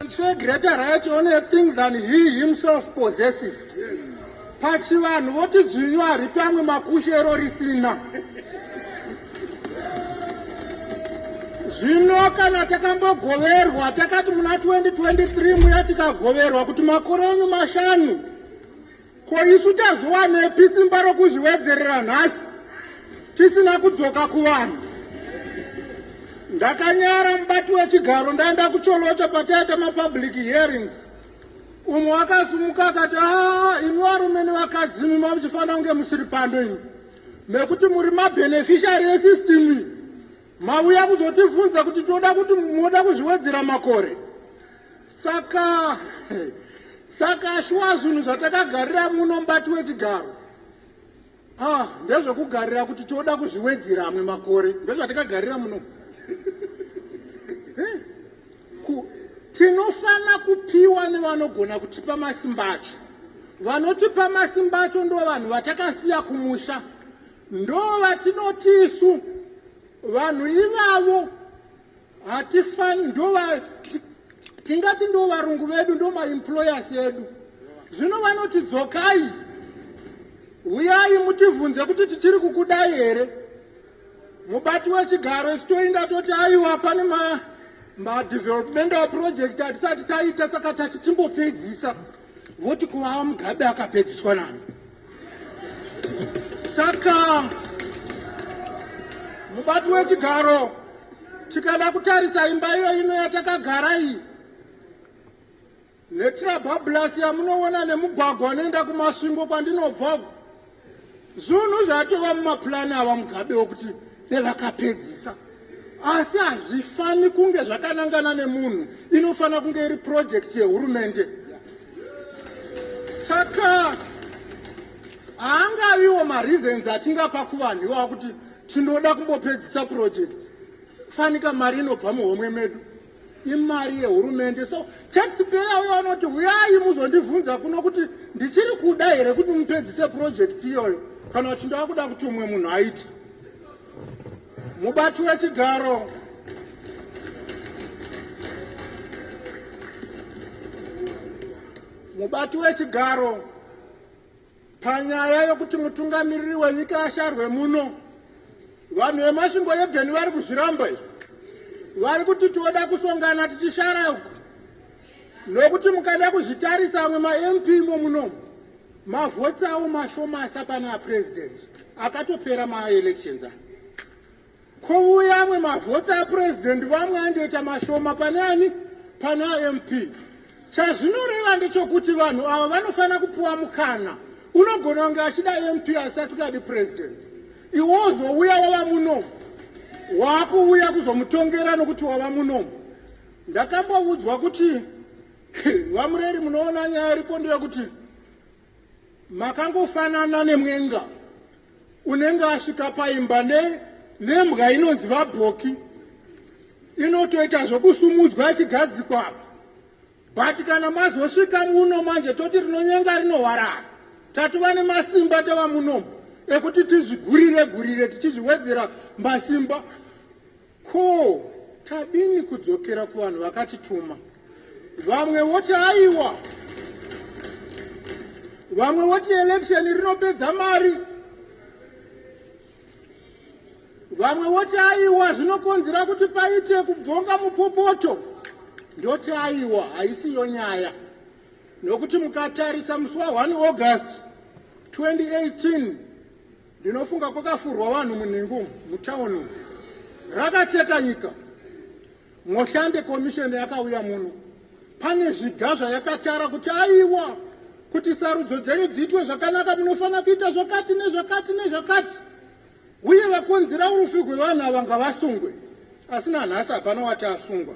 It's a greater right on a thing than he himself possesses. Pachivanhu voti dzvinyu haripi amwe makushe ero risina. Zvino kana takambogoverwa takati muna 2023 muya tikagoverwa kuti makore enyu mashanu Ko isu tazowanepi simba rokuzviwedzerera nhasi tisina kudzoka kuvanhu? Ndakanyara mubati wechigaro ndaenda kuCholota pataita mapublic hearings. Umwe wakasumuka akati, ah, imi varume nevakadzi imi mamuchifanira kunge musiri pando imi nekuti muri mabeneficiary esystem iyi. Mauya kuzotifunza kuti toda kuti moda kuzviwedzera makore. Saka saka shuwa zvinhu zvatakagarira muno mbati wechigaro. Ah, ndezvekugarira kuti toda kuzviwedzera amwe makore. Ndozvatakagarira muno. Eh, ku tinofana kupiwa nevanogona kutipa masimba acho vanotipa masimba acho ndo vanhu vatakasiya kumusha Ndovatinoti isu vanhu ivavo hatifani ndova tingati ndo varungu vedu ndo maemployers edu zvino vanoti dzokai huyai mutivhunze kuti tichiri kukudai here mubati wechigaro isu toinda toti aiwa pane madevelopmental project atisati taita saka tati timbopedzisa voti kuvava mugabe akapedziswa nani saka mubati wechigaro tikada kutarisa imba iyo ino yatakagara iyi netirabhabhulasi yamunoona nemugwagwa unoenda kumasvingo kwandinobva uku Zvunhu zvatova mumapulani ava Mugabe wokuti devakapedzisa asi hazvifani kunge zvakanangana nemunhu inofanira kunge iri purojekiti yehurumende saka haangaviwo mareasons atingapa kuvanhu iwaa kuti tinoda kumbopedzisa purojekiti fanika mari inobva muhomwe medu imari yehurumende so taxpayer uyo anoti huyai muzondivhunza kuno kuti ndichiri kuda here kuti mupedzise purojekiti iyoyo kana kuti ndava kuda kuti umwe munhu aite mubati wechigaro mubati wechigaro Panyaya yokuti mutungamiriri wenyika asharwe muno, vanhu vemasvingo yebeni vari kuzviramba izvi. Vari kuti tinoda kusongana tichishara uku, nokuti mukada kuzvitarisa amwe maMP imo muno mavhoti avo mashomasa pane apresident akatopera maelections aya. Kouya amwe mavhoti apurezidendi vamwe andoita mashoma pane ani? Pane aMP. Chazvinoreva ndechokuti vanhu ava vanofanira kupiwa mukana. Unogona kunge achida aMP asi asingadi purezidendi. Iwe wozouya wava munomu. Wakuuya kuzomutongera nokuti wava munomu. Ndakamboudzwa kuti vamureri munoona nyaya iripo ndeyekuti makangofanana nemwenga unenge asvika paimba nembwa inonzi vabhoki inotoita zvekusumudzwa ichigadzikwa but kana mazosvika muno manje toti rinonyenga rinohwarara tatova nemasimba tava munomu ekuti tizvigurire gurire tichizviwedzera masimba Ko tadini kudzokera kuvanhu vakatituma? Vamwe voti aiwa, vamwe voti election rinopedza mari, vamwe voti aiwa zvinokonzera kuti paite kubvonga mupopoto. Ndoti aiwa haisiyo nyaya nokuti mukatarisa musi wa 1 August 2018 Ndinofunga kwakafurwa vanhu munhingu mutown umu. Rakacheka nyika. Moshande komisheni yakauya muno. Pane zviga zvayakatara kuti aiwa kuti sarudzo dzenyu dziitwe zvakanaka munofanira kuita zvakati nezvakati nezvakati. Uye vakonzera urufi hwevanhu ava ngavasungwe. Asi nanhasi hapana wati asungwa.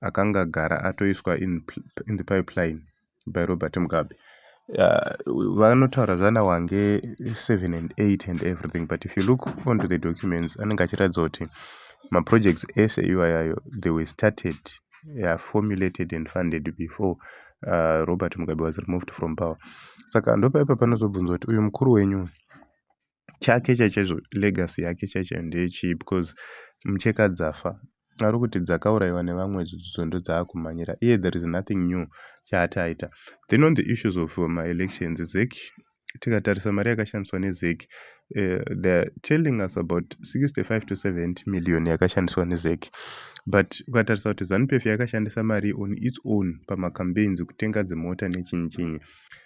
akanga agara atoiswa in the pipeline by Robert Mugabe. Uh, vanotaura zvana wange 7 and 8 and everything but if you look onto the documents anenge achiratidza kuti maprojects ese iwayayo they were started yeah, formulated and funded before uh, robert mugabe was removed from power saka ndopaipa panozobvunza kuti uyu mukuru wenyu chake chachaizvo legacy yake chaichayo ndeyechii because mucheka dzafa ari kuti dzakaurayiwa nevamwe zvidzidzo ndodzaakumhanyira iye there is nothing new chaati aita then on the issues of uh, maelections zec tikatarisa mari yakashandiswa nezec uh, theyare telling us about 65 to 70 million yakashandiswa nezec but ukatarisa kuti zanupf yakashandisa mari on its own pamacampaigns kutenga dzimota nechinyichinyi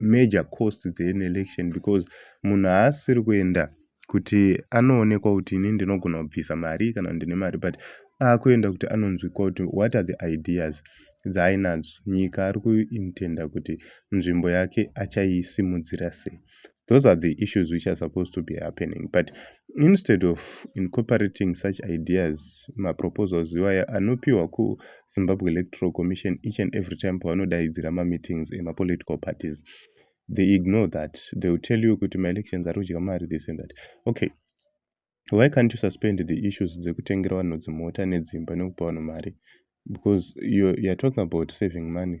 major costs dze an election because munhu haasisiri kuenda kuti anoonekwa kuti ini ndinogona kubvisa mari kana kuti ndine mari but akuenda kuti anonzwikwa kuti what are the ideas dzaainadzo nyika ari kuintenda kuti nzvimbo yake achaisimudzira sei those are the issues which are supposed to be happening but instead of incorporating such ideas maproposals iwaya anopiwa Zimbabwe Electoral Commission each and every time pavanodaidzira mameetings emapolitical parties they ignore that they will tell you kuti maelections ari kudya mari this and that okay why can't you suspend the issues dzekutengera vanhu dzimota nedzimba nekupa vanhu mari because you're, you're talking about saving money